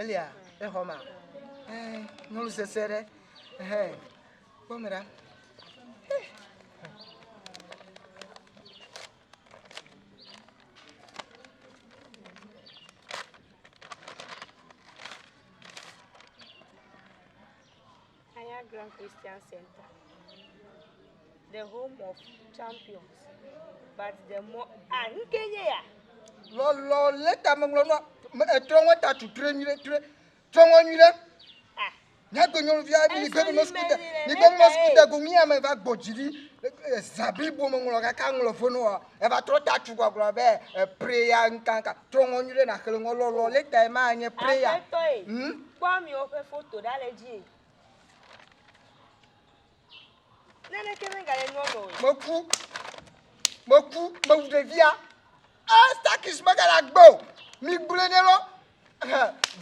Elia, exɔ ma. Eh, nyɔnu sese ɖe. Eh, kpɔ me ɖa. Eh. Aya Grand Christian Center, the home of champions, but the more ah nke nye ya. Lɔlɔ le ta me ŋlɔ nɔ etrɔ ŋɔ ta tu tre nyuie tre trɔ ŋɔ nyuie ɖe. Ah, Nyagbe nyɔnuvi aɖe mi gbe nɔ sukuu de mi gbe nɔ sukuu de go mi ame va gbɔ dzi ɖi ezabi bo me ŋlɔ kaka ŋlɔ fo nɔ wa eva trɔ ta tu gbagblɔ be epreya nkankan. Trɔ ŋɔ nyuiɖe naxle ŋɔ lɔlɔ leta ema anye prayer. Aƒetɔ e. Hmm? Kpɔ amewo ƒe foto ɖa le dzi e. Naneke megale nua me o. Meku. Meku. Mewu ɖevia. Ah, stakis megale agbe o. Mi gblẽ ne lɔ.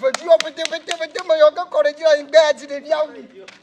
Vedu yɔ vete vete vete meyɔ ke kɔ ɖe dzi le anyigba ya dzi ɖevia wu.